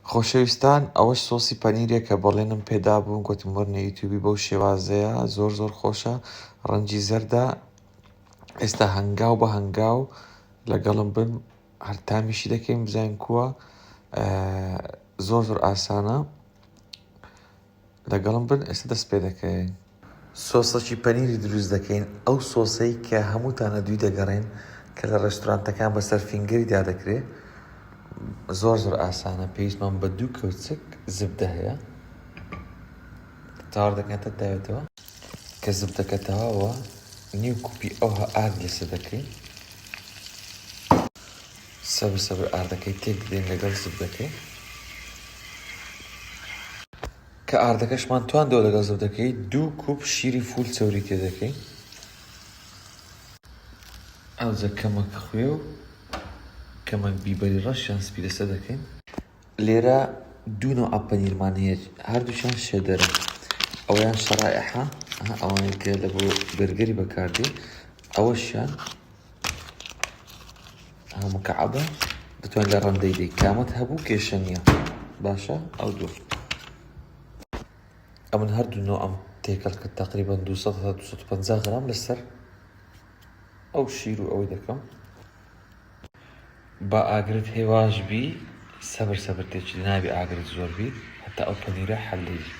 خۆشەویستان ئەوەش سۆسی پەنیرێکە بەڵێنم پێدابوون گوتم وەرنە یوتیوبی بەو شێوازەیە زۆر زۆر خۆشە ڕەنجی زەردە ئێستا هەنگاو بە هەنگاو لەگەڵم بن هەر تامیشی دەکەین بزانین کووە زۆر زۆر ئاسانە لەگەڵم بن ئێستا دەست پێ دەکەین. سۆسەکی پەنیری دروست دەکەین ئەو سۆسەی کە هەمووتان لە دووی دەگەڕێن کە لە ڕێستورانتەکان بەسەر فینگەری دا دەکرێ زۆر زۆر ئاسانە پێویستمان بە دوو کەوچک زبدە هەیە تاوەر دەکەین تا داوێتەوە کە زبدەکە تەواوە نیو کوپی ئەوها ئارد لەسەر دەکەین. سەبر سەبر ئاردەکەی تێک دەین لەگەڵ زبدەکەی. کە ئاردەکەشمان تواندەوە لەگەڵ زبدەکەی دوو کوپ شیری فول چەوری تێ دەکەین. ئاوزە کەمەک خوێ و کەمەک بیبەری ڕەش یان سپی لەسەر دەکەین. لێرە دوو نەوع پەنیرمان هەیە هەردووکیان شێدەرن ئەویان شەڕائحە ئەوانەی کە لە بۆ بەرگەری بەکاردێ ئەوەشیان مکعبە دەتوان لە ڕەندەی دەی کامەت هەبوو کێشە نییە باشە ئەو دوو ئەمن هەردوو نۆ ئەم تێکەڵ کە تقریبا 250 غرام لەسەر ئەو شیر و ئەوەی دەکەم با ئاگرت هەی واش بی سەبر سەبر تێچی نابی ئاگرت زۆر بی هەتا ئەو پەنیرە حەل دەیبی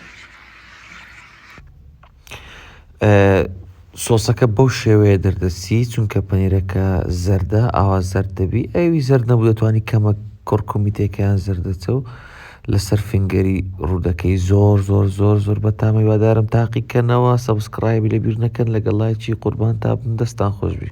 سۆسەکە بەو شێوەیە دەردەسی چونکە پەنیرەکە زەردە ئاوا زەرد دەبی ئەوی زەرد نەبوو دەتوانی کەمە کڕکمی تێکیان زەردەچە و لەسەر فنگەری ڕوودەکەی زۆر زۆر زۆر زۆر بە تامی وادارم تاقیکەنەوە سەبسکڕایبی لە بیر نەکەن لەگەڵ لایچی قوربان تا بم دەستان خۆشببی